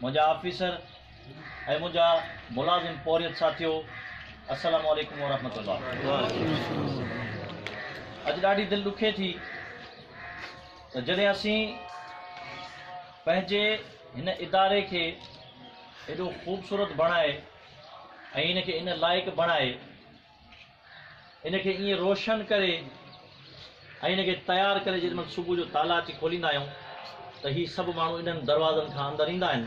منهنجا آفيسر ۽ منهنجا ملازم پورهيت ساٿيو السلام عليڪم ورحمة الله اڄ ڏاڍي دل ڏکي ٿي ته جڏهن اسين پنهنجي هن اداري کي ايڏو خوبصورت بڻائي ۽ ان کي ان لائق بڻائي ان کي ائين روشن ڪري ۽ ان کي تيار ڪري جيڏي مھل صبح جو تالا اچي کوليندا آھيون ته ھي سڀ ماڻھو انھن دروازن کان اندر ايندا آھن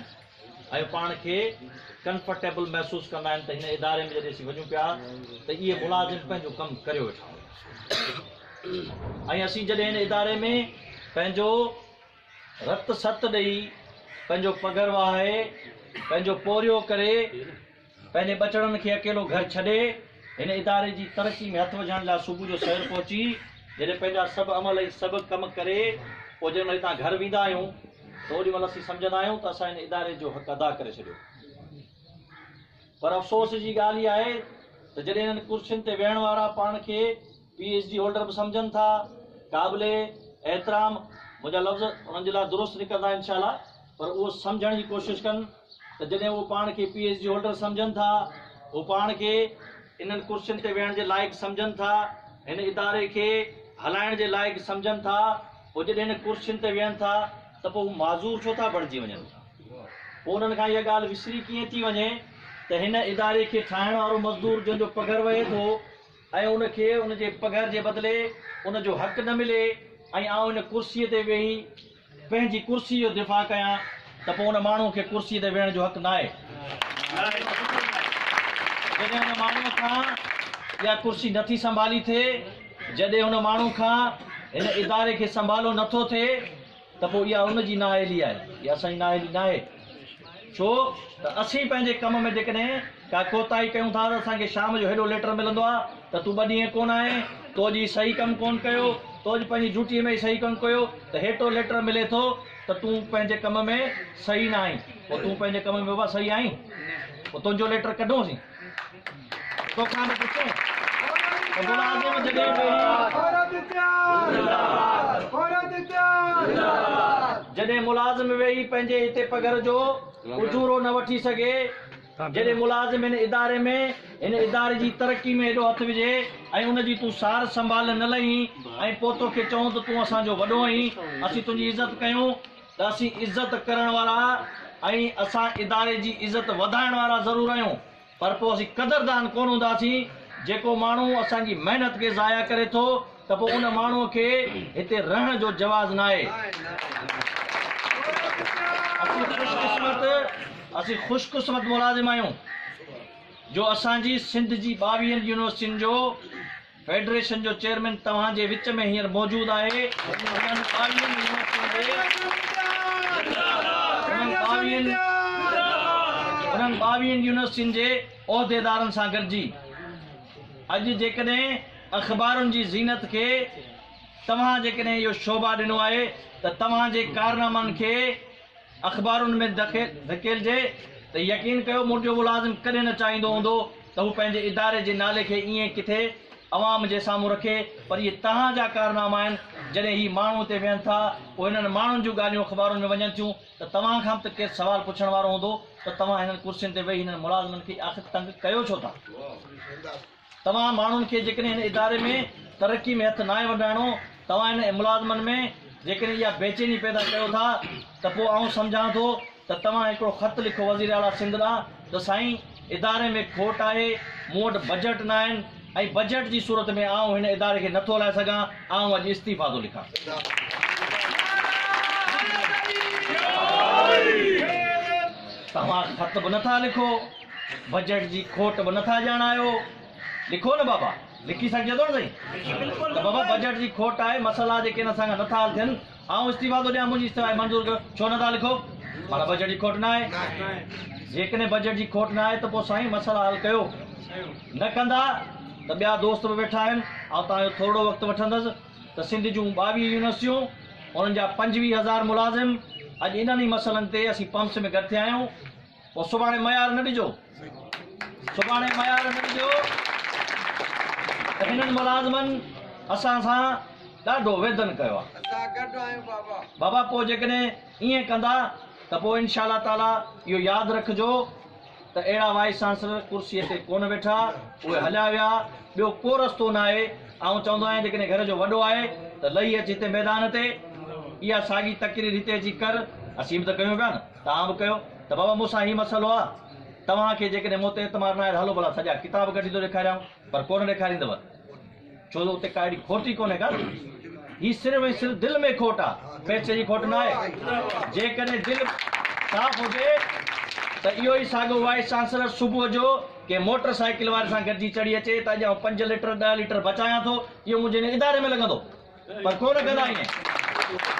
۽ پاڻ کي ڪنفرٽيبل محسوس ڪندا آھن ته ھن اداري ۾ جڏھن اسين وڃون پيا ته اھي ملازم پنھنجو ڪم ڪريو ويٺا ھوندا ۽ اسين جڏھن ھن اداري ۾ پنھنجو رت ست ڏئي پنھنجو پگھر وھائي پنھنجو پورھيو ڪري پنهنجي ٻچڙن کي اڪيلو گهر ڇڏي هن اداري جي ترقي ۾ هٿ وجهڻ لاء صبح جو سوير پهچي جڏهن پنهنجا سڀ عمل ۽ سڀ ڪم ڪري پوء جڏهن هتان گهر ويندا آهيون ته اوڏي مهل اسين سمجهندا آهيون ته اسان هن اداري جو حق ادا ڪري ڇڏيو پر افسوس جي ڳالهه اها آهي ته جڏهن انهن ڪرسين تي ويهڻ وارا پاڻ کي پي ايڇ ڊي هولڊر به سمجهن ٿا قابل احترام منهنجا لفظ انهن جي لاء درست نڪرندا انشاء الله پر اهو سمجهڻ جي ڪوشش ڪن ته جڏهن اهو پاڻ کي پي ايڇ ڊي هولڊر سمجهن ٿا اهو پاڻ کي انهن ڪرسين تي ويهڻ جي لائق سمجهن ٿا هن اداري کي هلائڻ جي لائق سمجهن ٿا پوء جڏهن هن ڪرسين تي ويهن ٿا ته پوء هو معذور ڇو ٿا بڻجي وڃن پوء انهن کان اها ڳالهه وسري ڪيئن ٿي وڃي ته هن اداري کي ٺاهڻ وارو مزدور جنهن جو پگهر وهي ٿو ۽ ان کي ان جي پگهر جي بدلي ان جو حق نه ملي ۽ آئون ان ڪرسيء تي ويهي پنهنجي ڪرسيء جو دفاع ڪيان ته پوء ان ماڻهوء کي ڪرسيء تي ويهڻ جو حق ناهي. جڏهن ان ماڻهوء کان اها ڪرسي نٿي سنڀالي ٿئي، جڏهن ان ماڻهوء کان هن اداري کي سنڀالو نٿو ٿئي، ته پوء اها ان جي نااهلي آهي، اها اسان جي نااهلي ناهي. ڇو ته اسين پنهنجي ڪم ۾ جيڪڏهن ڪا ڪوتاهي ڪيون ٿا ته اسان کي شام جو هيڏو ليٽر ملندو آهي ته تون ٻه ڏينهن ڪونه آئين، تو اڄ هي صحيح ڪم ڪونه ڪيو، تو اڄ پنهنجي ڊيوٽيء ۾ هي صحيح ڪونه ڪيو ته هيٽو ليٽر ملي ٿو ته تون پنهنجي ڪم ۾ صحيح نه آهين. پوء تون پنهنجي ڪم ۾ بابا صحيح آهين؟ پوء تنهنجو ليٽر ڪڍون اسين. جڏهن ملازم ويهي پنهنجي هتي پگهر جو اجورو نه وٺي سگهي، جڏهن ملازم هن اداري ۾ هن اداري جي ترقي ۾ هيڏو هٿ وجهي ۽ ان جي تون سار سنڀال نه لهين ۽ پوء توکي چئون ته تون اسان جو وڏو آهين، اسين تنهنجي عزت ڪيون. ته اسين عزت ڪرڻ وارا ۽ اسان اداري جي عزت وڌائڻ وارا ضرور آهيون پر پوء اسين قدردان ڪونه هونداسين، جيڪو ماڻهو اسان جي محنت کي ضايع ڪري ٿو ته پوء ان ماڻهو کي هتي رهڻ جو جواز ناهي. اسين خوش قسمت اسين خوش قسمت ملازم آهيون جو اسان جي سنڌ جي ٻاويهن يونيورسٽين جو. فيڊريشن جو چيئرمين توهان جي وچ ۾ هينئر موجود آهي انهن ٻاويهن يونيورسٽين جي عهديدارن سان گڏجي اڄ جيڪڏهن اخبارن جي زينت کي توهان جيڪڏهن اهو شوڀا ڏنو آهي ته توهان جي ڪارنامن کي اخبارن ۾ ڌڪيلجي ته يقين ڪيو منهنجو ملازم ڪڏهن نه چاهيندو هوندو ته هو پنهنجي اداري جي نالي کي ائين ڪٿي عوام جي سامهون رکي پر اهي توهان جا ڪارناما آهن جڏهن هي ماڻهو اتي ويهن ٿا پوء هنن ماڻهن جون ڳالهيون اخبارن ۾ وڃن ٿيون ته توهان کان به ته ڪير سوال پڇڻ وارو هوندو ته توهان هنن ڪرسين تي ويهي هنن ملازمن کي آخر تنگ ڪيو ڇو ٿا. توهان ماڻهن کي جيڪڏهن هن اداري ۾ ترقي ۾ هٿ ناهي وڍرائڻو، توهان هن ملازمن ۾ جيڪڏهن اها بيچيني پيدا ڪيو ٿا ته پوء آئون سمجهان ٿو ته توهان هڪڙو خط لکو وزير اعليٰ سنڌ ڏانهن ته سائين اداري ۾ کوٽ آهي، مون وٽ بجيٽ نه آهن ۽ بجيٽ جي صورت ۾ آئون هن اداري کي نٿو هلائي سگهان، آئون اڄ استعيفيٰ ٿو لکان. توهان خط به نٿا لکو. بجيٽ جي کوٽ به نٿا ڄاڻايو. لکو نه بابا. لکي سگهجي ٿو نه سائين. لکي بلڪل. ته بابا بجيٽ جي کوٽ آهي مسئلا جيڪي ان اسان کان نٿا حل ٿين آئون استعيفا ٿو ڏيان منهنجي استعيفا کي منظور ڪيو ڇو نٿا لکو معنيٰ بجيٽ جي کوٽ ناهي جيڪڏهن بجيٽ جي کوٽ ناهي ته پوء سائين مسئلا حل ڪيو نه ڪندا ته ٻيا دوست به ويٺا آهن آئون توهان جو ٿورڙو وقت وٺندس ته سنڌ جون ٻاويهه يونيورسٽيون انهن جا پنجويهه هزار ملازم اڄ انهن ئي مسئلن تي اسين پمپس ۾ گڏ ٿيا آهيون پوء سڀاڻي ميار نه ڏجو سڀاڻي ميار نه ڏجو ته انهن ملازمن اسان سان ڏاڍو ويڌن ڪيو آهي اسان گڏ آهيون بابا بابا پوء جيڪڏهن ائين ڪندا ته پوء انشاء الله تعالي اهو ياد رکجو ته اهڙا وائيس چانسلر ڪرسي تي ڪونه ويٺا اهي هليا ويا ٻيو ڪو رستو نه آهي آئون چوندو آهيان جيڪڏهن گهر جو وڏو آهي ته لهي اچ هتي ميدان تي اها ساڳي تقرير هتي اچي ڪر اسين به ته ڪيون پيا نه توهان به ڪيو ته بابا مون سان هي مسئلو آ توهان کي جيڪڏهن مون تي اعتماد ناهي ته هلو ڀلا سڄا ڪتاب ڪڍي ٿو ڏيکاريانو پر ڪونه ڏيکاريندؤ ڇو جو اتي ڪا اهڙي کوٽ ئي ڪونهي ڪا هي صرف ۽ صرف دل ۾ کوٽ آ پئسي جي کوٽ ناهي جيڪڏهن دل صاف هجي ته اهو ئي ساڳو وائيس چانسلر صبح جو ڪنهن موٽر سائيڪل واري سان گڏجي چڙهي اچي ته اڄ آئون پنج ليٽر ڏهه ليٽر بچايان ٿو اهو منهنجي هن اداري ۾ لڳندو پر ڪونه ڪندا ائين